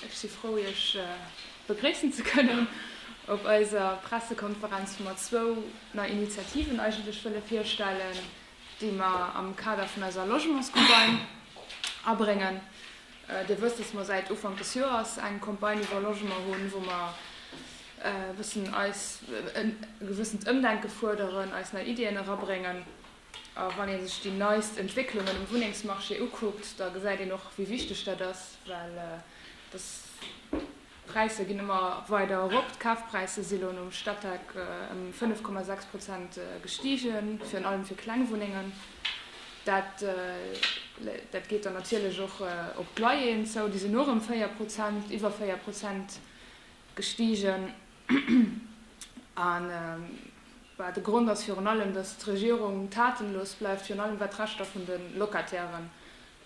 Ech si frou Iech begréissen ze kënnen op eiser Pressekonferenz, wou mer zwou nei Initiativen eigentlech wëlle virstellen, déi mer am Kader vun eiser Logementscampagne abréngen. Dir wësst, dass mer säit Ufank des Joers eng Campagne iwwer Logement hunn, wou mer e bëssen eis e gewëssent Ëmdenke fuerderen, eis nei Iddien erabréngen. A wann ee sech déi neist Entwécklungen um Wunnengsmarché ukuckt, da gesäit een och, wéi wichteg dat ass, well d'Präisser ginn ëmmer weider erop. D'Kafpräisser si elo nom Statec ëm 5,6 Prozent gestigen, virun allem fir kleng Wunnengen. Dat geet dann natierlech och op d'Loyeren zou, déi sinn och ëm 4 Prozent, iwwer 4 Prozent gestigen. A well de Grond ass virun allem, datt d'Regierung tatenlos bleift, virun allem wat d'Rechter vun de Locatairen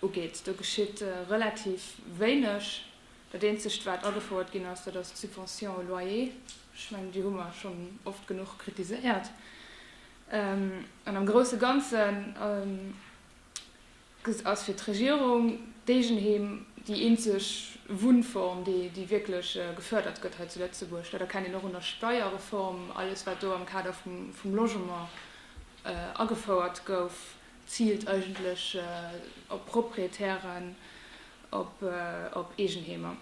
ugeet. Do geschitt relativ wéineg. Dat eenzegt wat agefouert ginn ass, dat ass d'Subvention au loyer. Ech mengen, déi hu mer schonn oft genuch kritiséiert. An am grousse Ganzen. Dëst ass fir d'Regierung, d'Eegenheem, déi eenzeg Wunnform, déi wierklech gefördert gëtt hei zu Lëtzebuerg. Dat erkennt een och un der Steierreform, alles wat do am Kader vum Logement agefouert gouf, ziilt eigentlech op Proprietären, op Eegenheemer.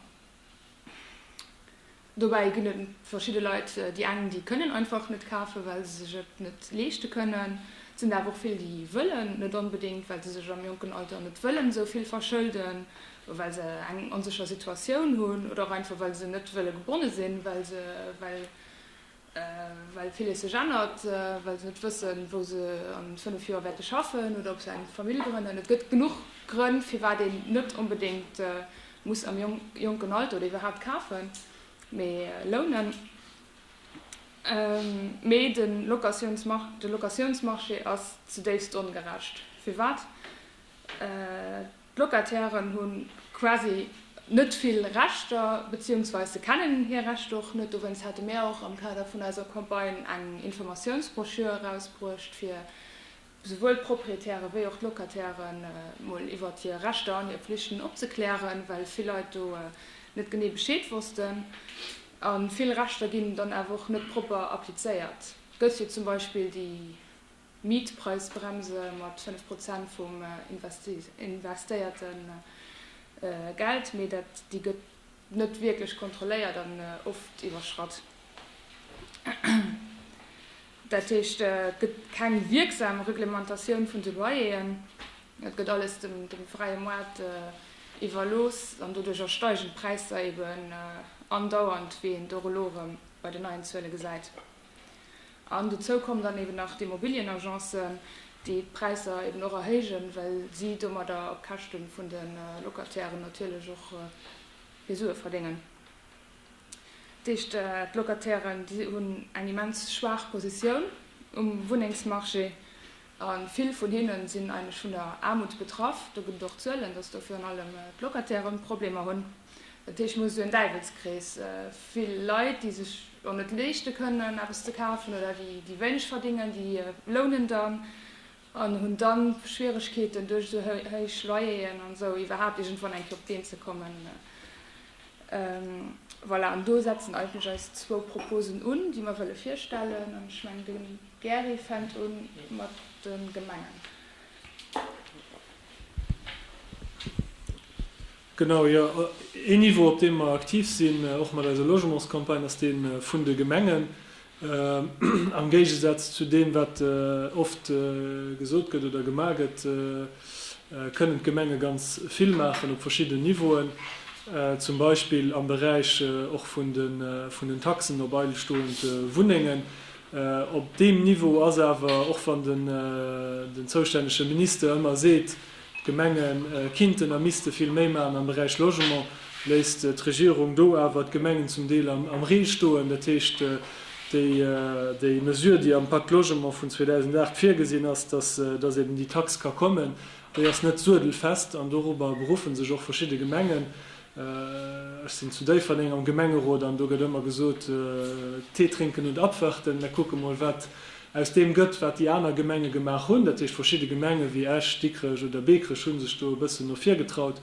Dobäi ginn et verschidde Leit, déi eng déi kënnen einfach net kafen, well se sech et net leeschte kënnen. Et sinn der awer och vill, déi wëllen net onbedéngt, well se sech am jonken Alter net wëllen esou vill verschëlden, well se eng onsécher Situatioun hunn oder och einfach well se net wëlle gebonne sinn, well se well Well villes sech ännert, well se net wëssen, wou se an fënnef Joer wäerte schaffen oder ob se eng Famill grënnen. Et gëtt genuch Grënn, firwat een net onbedéngt muss am jonken Alter oder iwwerhaapt kafen, mee lounen. Mee de Locatiounsmarché ass zedéifst ongerecht. Firwat? D'Locatairen hu quasi net vill Rechter, beziehungsweis se kennen hir Rechter och net. Dowéinst hate mir och am Kader vun eiser Campagne eng Informatiounsbroschür erausbruecht, fir souwuel d'Proprietäre wéi och d'Locataire mol iwwert hir Rechter an hir Pflichten opzeklären, well vill Leit do net genee Bescheed wossten. A vill Rechter ginn dann awer och net propper applizéiert. Gëtt jo zum Beispill déi Mietpreisbremse mat 5 Prozent vum investéierte Geld, mee déi gëtt net wierklech kontrolléiert an oft iwwerschratt. Dat heescht, et gëtt keng wierksam Reglementatioun vun de Loyeren, et gëtt alles dem fräie Moart iwwerlooss an doduercher steigen d'Präisser eben andauernd, wéi een et och elo erëm bei den neien Zuele gesäit. An dozou kommen dann eben nach d'Immobilienagencen, déi d'Präisser eben och erhéijen, well si domadder op Käschte vun de Locatairen natierlech och hir Sue verdéngen. Dat heescht, d'Locatairen, déi hunn eng immens schwaach Positioun um Wunnengsmarché. A vill vun hinne sinn eigentlech vun der Aarmut betraff. Do gëtt et och Zuelen, dass do virun allem d'Locatairen Problemer hunn. Dat heescht, mir hu sou en Däiwelskrees, vill Leit, déi sech och net leeschte kënnen, eppes ze kafen, oder déi wéineg verdingen, déi lounen dann an hunn da Schwieregkeeten, duerch esou héich Loyeren an esou iwwerhaapt iergendwann enk fir op d'Been ze kommen. Voilà, an do setzen eigentlech eis zwou Proposen un, déi mer wëlle virstellen. An ech mengen, de. D'Gäri fänkt un mat de Gemengen. Genau, jo. Een Niveau, op deem mer aktiv sinn, och mat eiser Logementscampagne, ass dee vun de Gemengen. Am Géigesaz zu deem, wat oft gesot gëtt oder gemaach gëtt, kënnen d'Gemenge ganz vill maachen op verschiddenen Niveauen. Zum Beispill am Beräich och vun den Taxen op eilstoend Wunnengen, Op deem Niveau ass awer, och wann den zoustännege Minister ëmmer seet, d'Gemenge kinnten a misste vill méi maachen am Beräich Logement, léisst d'Regierung do awer d'Gemengen zum Deel am Ree stoen. Dat heescht, déi Mesure, déi am Pacte Logement vun 2008 virgesinn ass, dass eben déi Tax ka kommen, déi ass net suedelfest an dorobber beruffe sech och verschidde Gemengen. Ech sinn zu Déifferdeng am Gemengerot an do gëtt ëmmer gesot, Tee trénken und abwarten. Mir kucke mol, wat aus deem gëtt, wat déi aner Gemenge gemaach hunn. Dat heescht, verschidde Gemenge wéi Esch, Dikrech oder Bekerech hu sech do e bëssen no vir getraut.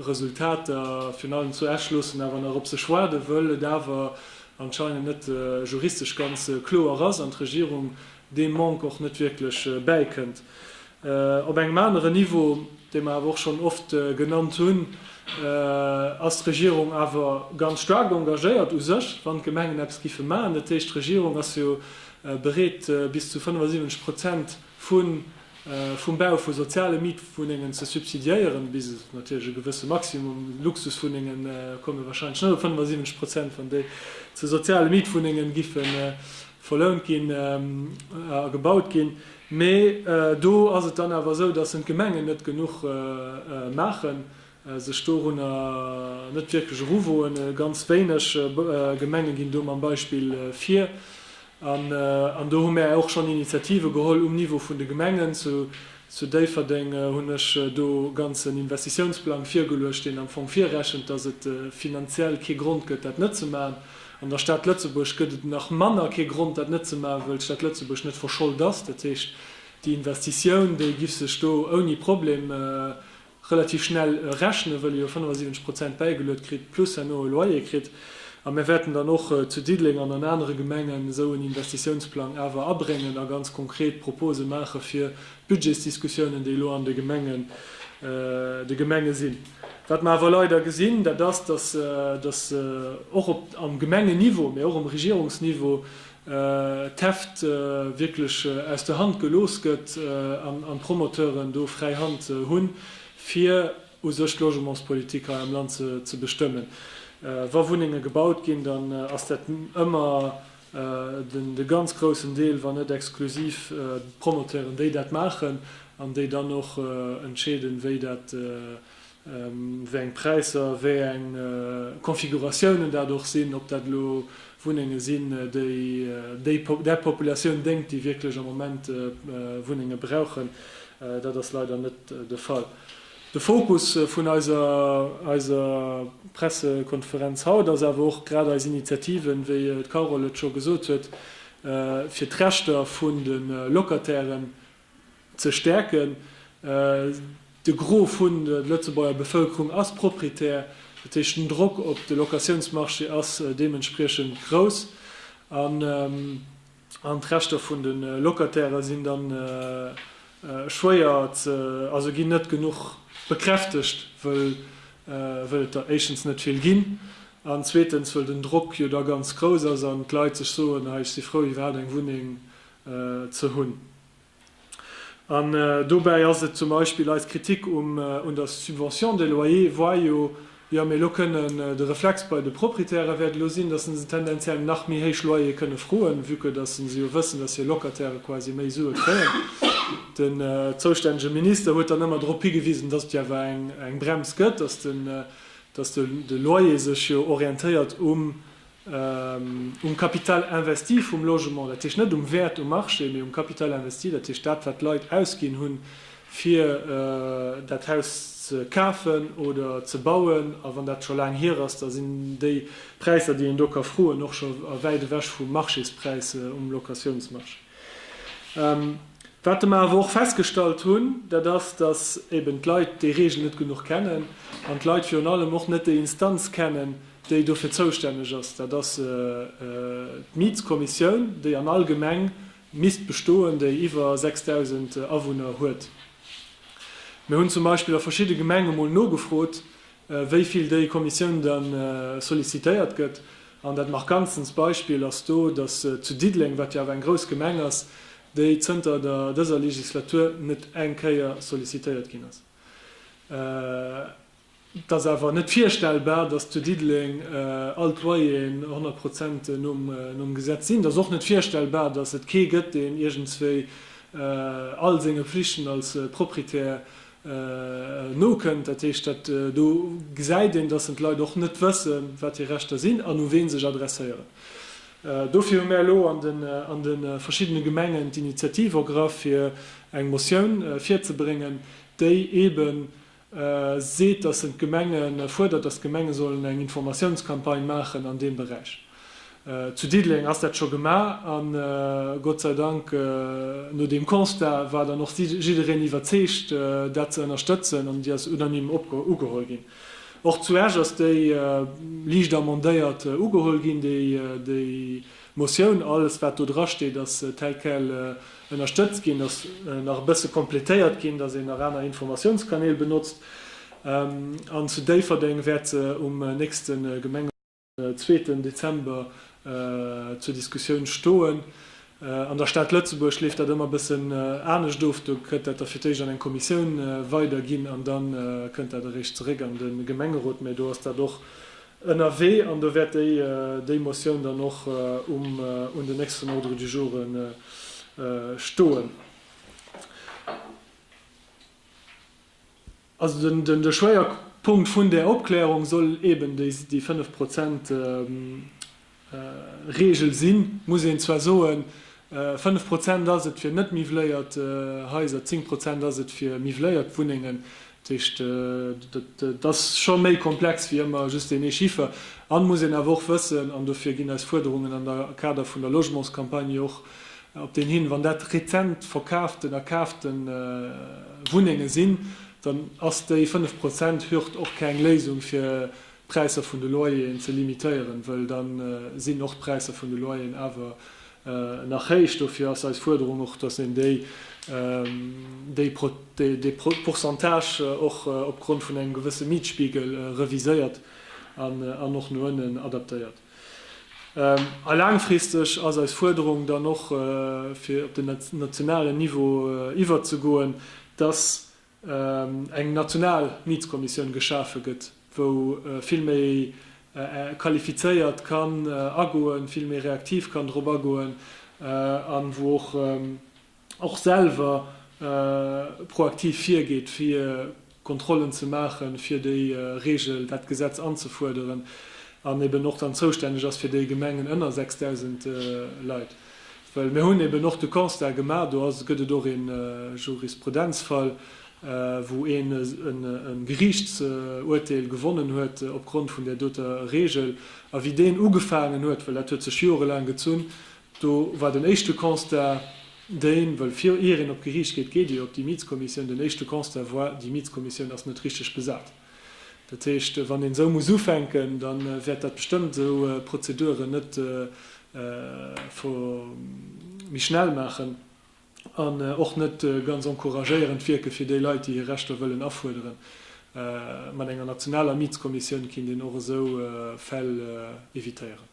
Resultater, virun allem zu Esch, loossen awer nach op sech waarden, wëll et awer anscheinend net juristesch ganz kloer ass an d'Regierung deem Manque och net wierklech bäikënnt. Op engem aneren Niveau, dee mer awer och schonn oft genannt hunn, ass d'Regierung awer ganz staark engagéiert u sech, wann d'Gemengen eppes géife maachen. Dat heescht, d'Regierung ass jo bereet, bis zu 75 Prozent vum Bau vu soziale Mietwunnengen ze subsidiéieren, bis natierlech e gewësse Maximum. Luxuswunnenge komme warscheinlech net op 75 Prozent, wann déi zu soziale Mietwunnenge verlount ginn a gebaut ginn, mee do ass et dann awer esou, dass en d'Gemengen net genuch maachen, sech dorunner net wierklech eruwoen. Ganz wéineg Gemenge ginn do mam Beispill vir an do hu mär och schonn Initiative geholl um Niveau vun de Gemengen. Zu Déifferdeng hunn ech do ganz en Investitiounsplang virgeluecht, deen am Fong virrechent, dass et finanziell kee Grond gëtt, dat net ze maachen. An der Stad Lëtzebuerg gëtt et nach manner kee Grond, dat net ze maachen, wëll d'Stad Lëtzebuerg net verschollt ass. Dat heescht, déi Investitioun, déi giff sech do ouni Problem relativ schnell rechnen, wëll ee jo 75 Prozent bäigeluet kritt, plus herno e Loyer kritt. A mir wäerten dann och zu Diddeleng an an anere Gemengen esou en Investitiounsplang awer abréngen a ganz konkret Propose maache fir d'Budgetsdiskussiounen, déi elo an de Gemenge sinn. Wat mer awer leider gesinn, dat ass, dass och op am Gemengenniveau, mä och um Regierungsniveau d'Heft wierklech aus der Hand gelooss gëtt an d'Promoteuren do fräi Hand hunn, fir u sech d'Logementspolitik hei am Land ze bestëmmen. Wa Wunnenge gebaut ginn, dann ass dat ëmmer, De ganz groussen Deel, wann net exklusiv d'Promoteuren, déi dat maachen an déi dann och entscheeden, wéi dat, wéi eng Präisser, wéi eng Konfiguratiounen dat och sinn, ob dat elo Wunnenge sinn, déi där Populatioun déngt, déi wierklech am Moment Wunnenge brauchen, dat ass leider net de Fall. De Fokus vun eiser Pressekonferenz haut ass awer och grad eis Initiativen, wéi d'Carole et scho gesot huet, fir d'Rechter vun de Locatairen ze stäerken. De Gros vun der Lëtzebuerger Bevëlkerung ass Proprietär, dat heescht den Drock op de Locatiounsmarché ass deementspriechend grouss. An d'Rechter vun de Locataire sinn da schwéier ze, also ginn net genuch bekräftegt, wëll et der éischtens net vill ginn an zweetens wëll den Drock jo da ganz grouss ass an d'Leit sech soen, hei ech si frou iwwerhaapt eng Wunneng ze hunn. An dobäi ass et zum Beispill eis Kritik um un der Subvention de loyer, voit jo, jo mir elo kënnen de Reflex bei de Proprietäre wäert elo sinn, dass se se tendenziell nach méi héich Loyere kënne froen, vue que dass se jo wëssen, dass hir Locataire quasi méi Sue kréien. Den zoustännege Minister huet dann ëmmer drop higewisen, dass et jo awer eng Brems gëtt, dass de Loyer sech jo orientéiert um Um Capital investi vum Logement, dat heescht net um Wäert um Marché, mee um Capital investi, dat heescht dat, wat d'Leit ausginn hunn, fir dat Haus ze kafen oder ze bauen. A wann dat scho laang hier ass, da sinn déi Präisser, déi een do ka froen, och scho wäit ewech vum Marchéspräis um Locatiounsmarché. Wat de mer awer och festgestallt hunn, dat ass, datt eeben d'Leit déi Reegel net genuch kennen an d'Leit virun allem och net déi Instanz kennen, déi dofir zoustänneg ass, dat ass d'Mietskommissioun, déi an all Gemeng misst bestoen, déi iwwer 6.000 Awunner huet. Mir hunn zum Beispill a verschidde Gemenge mol nogefrot, wéi vill déi Kommissioun da sollicitéiert gëtt. An dat markantstens Beispill ass do, dass zu Diddeleng, wat jo awer eng grouss Gemeng ass, déi zënter der dëser Legislatur net eng Kéier sollicitéiert ginn ass. Et ass awer net virstellbar, datt zu Diddeleng all d'Loyeren 100 Prozent nom Gesetz sinn. Et ass och net virstellbar, datt et kee gëtt, deen iergendswéi all senge Pflichten als Proprietär nokënnt. Dat heescht, dat do gesäit een, datt d'Leit och net wësse wat hir Rechter sinn an u wee sech adresséieren. Dofir hu mär elo an de verschiddene Gemengen d'Initiativ ergraff fir eng Motioun virzebréngen, déi eeben seet, dass en d'Gemenge fuerdert, dass d'Gemenge sollen eng Informatiounscampagne maachen an deem Beräich. Zu Diddeleng ass dat scho gemaach a Gott sei Dank, no deem Constat war dann och jiddereen iwwerzeegt, dat ze ënnerstëtzen an déi ass unanime ugeholl ginn. Och zu Esch ass déi liicht amendéiert ugeholl ginn, déi Motioun. Alles, wat do drasteet, ass tel quel ënnerstëtzt ginn. Et ass nach e bësse completéiert ginn, dass een nach aner Informatiounskanäl benotzt. An zu Déifferdeng wäert se um nächste Gemengerot, zweeten Dezember, zur Diskussioun stoen. An der Stad Lëtzebuerg leeft dat ëmmer e bëssen anescht of. Do gëtt dat da fir d'éischt an eng Kommissioun weiderginn an da kënnt dat eréischt zeréck an de Gemengerot. Mä do ass dat och ënnerwee an do wäert déi déi Motioun dann och um un den nächsten Ordre du joure stoen. Also den den de Schwéierpunkt vun där Opklärung soll eeben déi déi fënnef Prozent Reegel sinn, muss een zwar soen, fënnef Prozent ass et fir net-miwwléiert Haiser, zéng Prozent ass et fir miwwléiert Wunnengen. Dat heescht, et ass scho méi komplex wéi ëmmer just deen ee Chiffer. An, muss een awer och wëssen, an dofir ginn eis Fuerderungen am Kader vun der Logementscampagne och op deen hin, wann dat rezent verkaaften a kaafte Wunnenge sinn, dann ass déi fënnef Prozent Hürd och keng Léisung fir d'Präisser vun de Loyeren ze limitéieren, wëll da sinn och d'Präisser vun de Loyeren awer nach héich. Dofir ass eis Fuerderung och, dass een déi dee Pourcentage och opgrond vun engem gewësse Mietspiegel reviséiert an och no ënnen adaptéiert. A laangfristeg ass eis Fuerderung dann och, fir op den nationalen Niveau iwwerzegoen, dass eng national Mietskommissioun geschafe gëtt, wou vill méi qualifizéiert kann agoen, vill méi reaktiv kann drop agoen an wou och och selwer proaktiv virgeet fir Kontrollen ze maachen, fir déi Regel, dat Gesetz anzefuerderen an eben och dann zoustänneg ass fir déi Gemengen ënner 6.000 Leit. Well mir hunn eben och de Constat gemaach, do gëtt et och ee Jurisprudenzfall, wou een e Geriichtsuerteel gewonnen huet opgrond vun där doter Regel. A wéi deen ugefaangen huet, well dat huet sech jorelaang gezunn, do war den éischte Constat deen, well vir ier een op d'Geriicht geet, geet ee jo op déi Mietskommissioun, den éischte Constat war, déi Mietskommissioun ass net richteg besat. Dat heescht, wann een esou muss ufänken, da wäert dat bestëmmt esou Prozeduren net vo méi schnell maachen an och net ganz encouragéierend wierken, fir déi Leit, déi hir Rechter wëllen afuerderen. Mat enger nationaler Mietskommissioun kinnt een och esou Fäll evitéieren.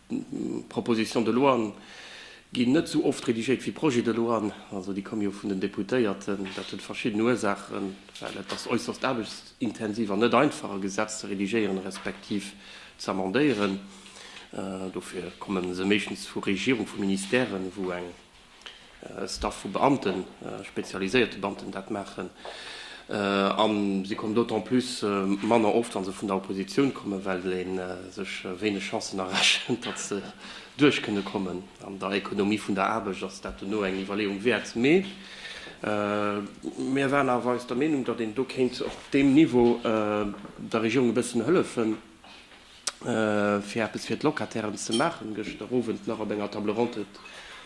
Propositions de loien ginn net esou oft redigéiert wéi Projets de loien. Also déi komme jo vun den Deputéierten. Dat huet verschidden Ursaachen, well et ass äusserst aarbechtsintensiv an net einfach, e Gesetz ze redigéieren, respektiv ze amendéieren. Dofir komme se meeschtens vu Regierung, vu Ministèren, wou eng Staff vu Beamten, spezialiséierte Beamten dat maachen. A se kommen d'autant plus manner oft, wa se vun der Oppositioun kommen, well ee sech wéineg Chancen erechent, datt se duerch kënne kommen. An der Ekonomie vun der Aarbecht ass dat dono eng Iwwerleeung wäert. Mee mir waren awer eis der Meenung, datt een do kéint op deem Niveau der Regierung e bëssen hëllefen. fir eppes fir d'Locatairen ze maachen. Gëschter Owend nach op enger Table ronde huet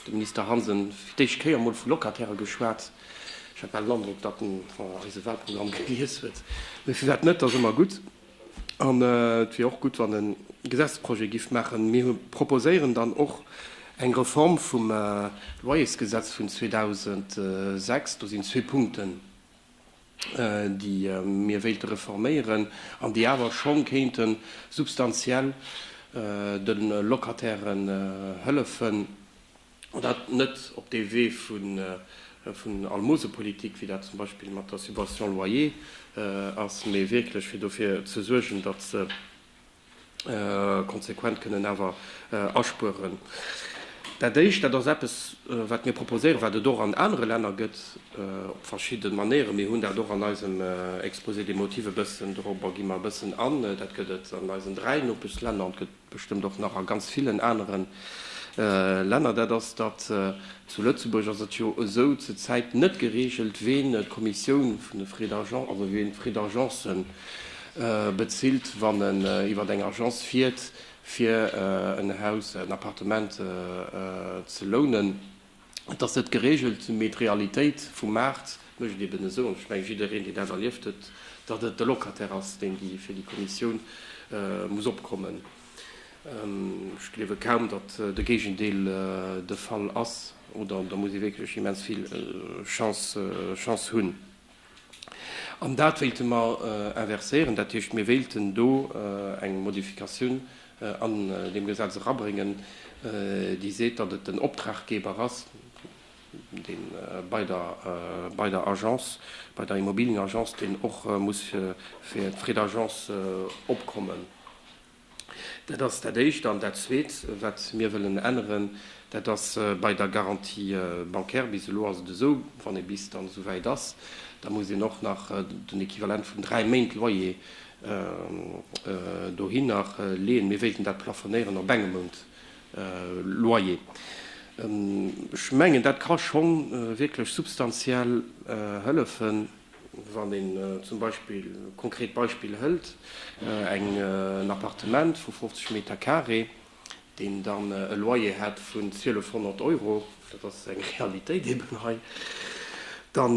de Minister Hansen fir d'éischt Kéier emol vu Locataire geschwat. Ech hat bal den Androck, datt en eise Walprogramm gelies huet. Mee firwat net, et ass ëmmer gutt. An et wier och gutt, wann en e Gesetzesprojet giff maachen. Mir proposéieren dann och eng Reform vum Loyersgesetz vun 2006. Do sinn zwee Punkten. déi mir wéilte reforméieren an déi awer scho kéinte substantiell de Locatairen hëllefen, an dat net op dee Wee vun Almosepolitik, wéi dat zum Beispill mat der Subvention loyer ass, mee wierklech fir dofir ze suergen, datt se konsequent kënnen awer aspueren. Dat Éischt, dat ass eppes, wat mir proposéieren, wat et och an anere Länner gëtt op verschidde Manéieren. Mir hunn dat och an eisem Exposé des motifs e bëssen, dorobber gi mer e bëssen an. Dat gëtt et an eisen dräi Nopeschlänner an et gëtt et bestëmmt och nach a ganz villen anere Länner. Dat ass, datt zu Lëtzebuerg ass et jo esou zur Zäit net gereegelt, ween d'Kommissioun vun de Frais d'agence, also ween d'Frais d'agencen, bezilt, wann en iwwer eng Agence fiert, fir en Haus, en Appartement ze lounen. Et ass net geregelt, mee d'Realitéit vum Maart mécht et eben esou, an ech mengen, jiddereen, deen dat erlieft huet, datt et de Locataire ass, deen fir déi Commissioun muss opkommen. Ech gleewe kaum, datt de Géigendeel de Fall ass, oder da muss ee wierklech immens vill Chance hunn. An dat wéilte mer inverséieren. Dat heescht, mir wéilten do eng Modifikatioun an deem Gesetz erabréngen, déi seet, datt et den Optraggeber ass, dee bei der Agence, bei der Immobilienagence, deen och muss fir d'Frais d'agence opkommen. Dat ass dat Éischt. An dat Zweet, wat mir wëllen änneren, dat ass bei der Garantie bancaire. Bis elo ass et esou, wann ee bis dann esouwäit ass, da muss een och nach den Equivalent vun dräi Méint Loyer dohinner leeën. Mir wéilten dat plafonéieren op engem Mount Loyer. Ech mengen, dat ka scho wierklech substantiell hëllefen. Wann een zum Beispill, konkret Beispill, hëlt en Appartement vu 50 Meter Carré, deen dann e Loyer hätt vun 1200 Euro, dat ass eng Realitéit eben hei, da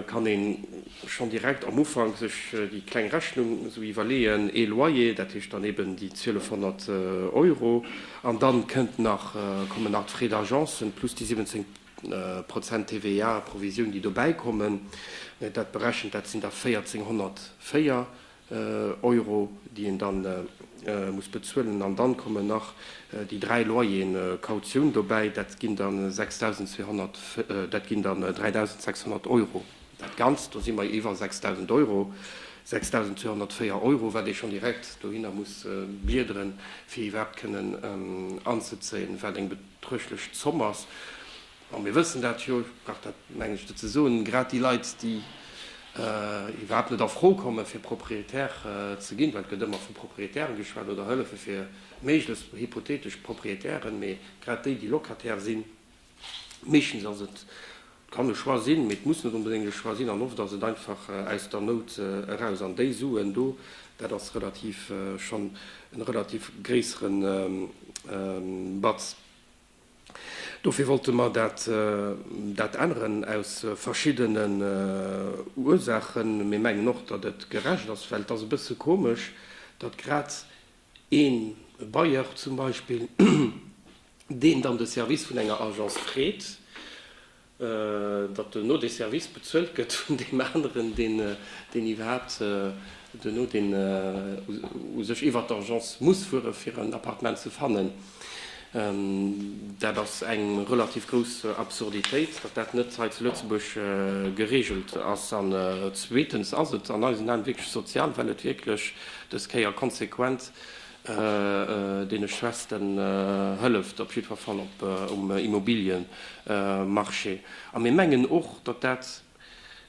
kann ee schonn direkt am Ufank sech déi kleng Rechnung esou iwwerleeën, ee Loyer, dat heescht dann eben déi 1200 Euro, an da kommen nach d'Frais d'agence plus déi 17 Prozent TVA, Provisioun, déi dobäi kommen, dat berechent, dat sinn da 1.404 Euro, déi een da muss bezuelen. An dann kommen nach déi dräi Loyeren Kautioun dobäi, dat ginn da 3.600 Euro. Dat Ganzt, do si mer iwwer 6.000 Euro, 6.204 Euro, wat ee schonn direkt dohinner muss bliederen, fir iwwerhaapt kënnen anzezéien, wat eng. D'Rëschlech Zomm ass, a mir wëssen dat jo, ech brauch dat, mengen ech, net ze soen, grad déi Leit, déi iwwerhaapt net a Fro komme fir Propriétaire ze ginn, well et gëtt ëmmer vu Propriétairen geschwat oder Hëllefe fir méiglechst hypothetesch Propriétairen, mee grad déi, déi Locataire sinn, meeschtens ass et Et kann e Choix sinn, mee et muss net onbedéngt e Choix sinn an oft ass et einfach aus der Nout eraus. An déi Suen do, dat ass relativ, schonn e relativ gréissere Batz. Dofir wollte mer dat änneren, aus verschiddenen Ursaachen. Mir mengen och, datt et gerecht ass, well et ass e bësse komesch, datt grad Een Bailleur zum Beispill, deen dann de Service vun enger Agence freet, datt duerno dee Service bezuelt gëtt vun deem aneren, deen iwwerhaapt duerno, deen u sech iwwert d'Agence muss fuere fir en Appartement ze fannen. Dat ass eng relativ grouss Absurditéit, datt dat net hei zu Lëtzebuerg geregelt ass. An zweetens ass et an eisen Aen wierklech sozial, well et wierklech, dës Kéier konsequent, deene Schwächsten hëlleft, op jiddwer Fall um Immobiliëmarché. A mir mengen och, datt dat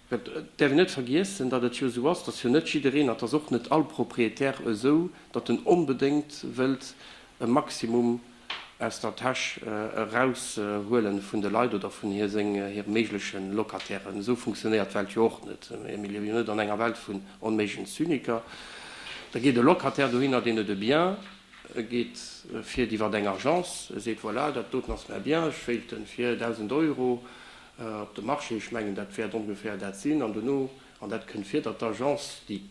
Et däerf een net vergiessen, datt et jo esou ass, datt jo net jiddereen, dat ass och net all Propriétaire esou, datt en onbedéngt wëllt e Maximum aus der Täsch eraushuele vun de Leit oder vun hire méigleche Locatairen. Esou funktionéiert d'Welt jo och net. Mir liewe jo net an enger Welt vun onméiglegen Zyniker. Da geet e Locataire dohinner, deen et e bien geet, fiert iwwer eng Agence, seet, Voilà, dat doten ass mäi Bien, ech wéilt en fir 1.000 Euro op de Marché, ech mengen dat wäert ongeféier dat sinn, an dono, an dat kënnt vir, datt d'Agence déi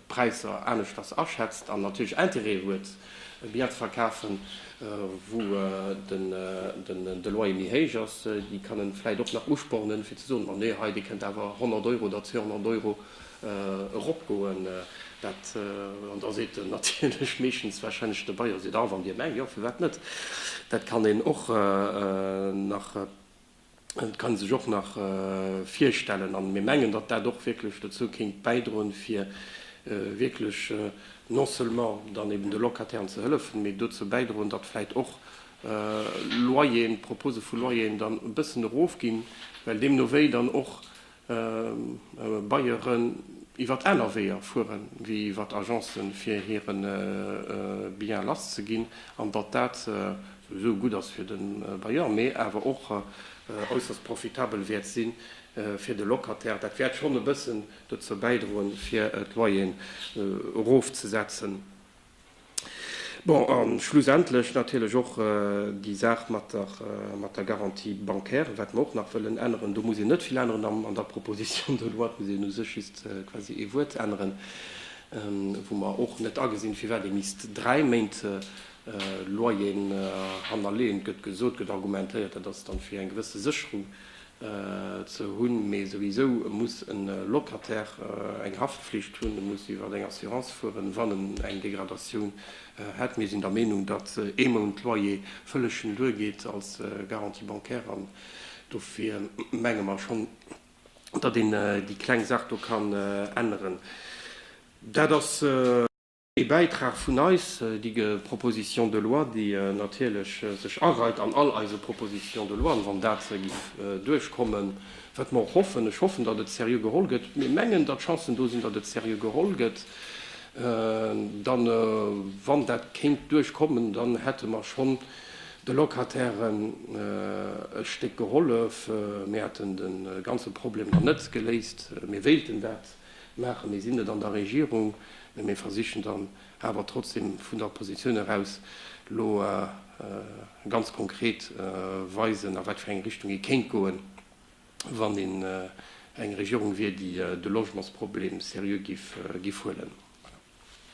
Präisser aneschters aschätzt an natierlech Interêt huet e Bien ze verkafen, wou de Loyer méi héich ass, déi kann e vläicht och nach uspornen, fir ze soen, ma nee, hei, Dir kënnt awer 100 Euro oder 200 Euro. eropgoen, dat, an da seet en natierlech meeschtens warscheinlech de Bailleur seet, ah wann dir mengt, jo firwat net, dat kann een och nach, dat kann ee sech och nach virstellen. An mir mengen, datt dat och wierklech dozou kéint bäidroen, fir wierklech non seulement dann eben de Locatairen ze hëllefen, mee dozou bäidroen, datt vläit och Loyeren, d'Propose vu Loyeren dann e bëssen erofginn, well deemno wéi dann och Baieren iwwert aner Weeër fueren wéi iwwert Agencen fir hiren Bien lass ze ginn an datt dat souwisou gutt ass fir den Bailleur mee awer och äusserst profitabel wäert sinn fir de Locataire. Dat wäert schonn e bëssen dozou bäidroen fir d'Loyeren erof ze setzen. Bon, a schlussendlech natierlech och déi Saach mat der Garantie bancaire, wat mer och nach wëllen änneren. Do muss een net vill änneren an der Proposition de loi. Et muss een u sech just quasi ee Wuert änneren, wou mer och net agesinn, firwat ee misst dräi Méint Loyeren hannerleeën. Et gëtt gesot, gëtt argumentéiert, dat ass dann, fir eng gewësse Sécherung ze hunn, mee souwisou muss e Locataire eng Haftpflicht hunn, e muss iwwer eng Assurance fueren, wann en eng Degradatioun hätt. Mir sinn der Meenung, datt ee Mount Loyer vëlleg schonn duergeet als Garantie bancaire an dofir menge mer schonn, datt een déi kleng Saach do kann änneren. Dat ass. Ee Bäitrag vun eis, déi ge Proposition de loi, déi natierlech sech areit an all eise Propositions de loien, wann dat se giff duerchkommen, wat mer och hoffen. Ech hoffen, datt et seriö geholl gëtt. Mir mengen, datt Chancen do sinn, datt et seriö geholl gëtt. Dann, wann dat kéint duerchkommen, dann hätte mer schonn de Locatairen e Stéck gehollef. Mir hätten de ganze Problem dann net geléist. Mir wéilten dat. maachen. Mir sinn net an der Regierung, mä mir versichen dann awer trotzdem vun der Oppositioun eraus elo ganz konkret weisen, a wat fir eng Richtung ee kéint goen, wann een eng Regierung wier, déi de Logementsproblem seriö géif huelen.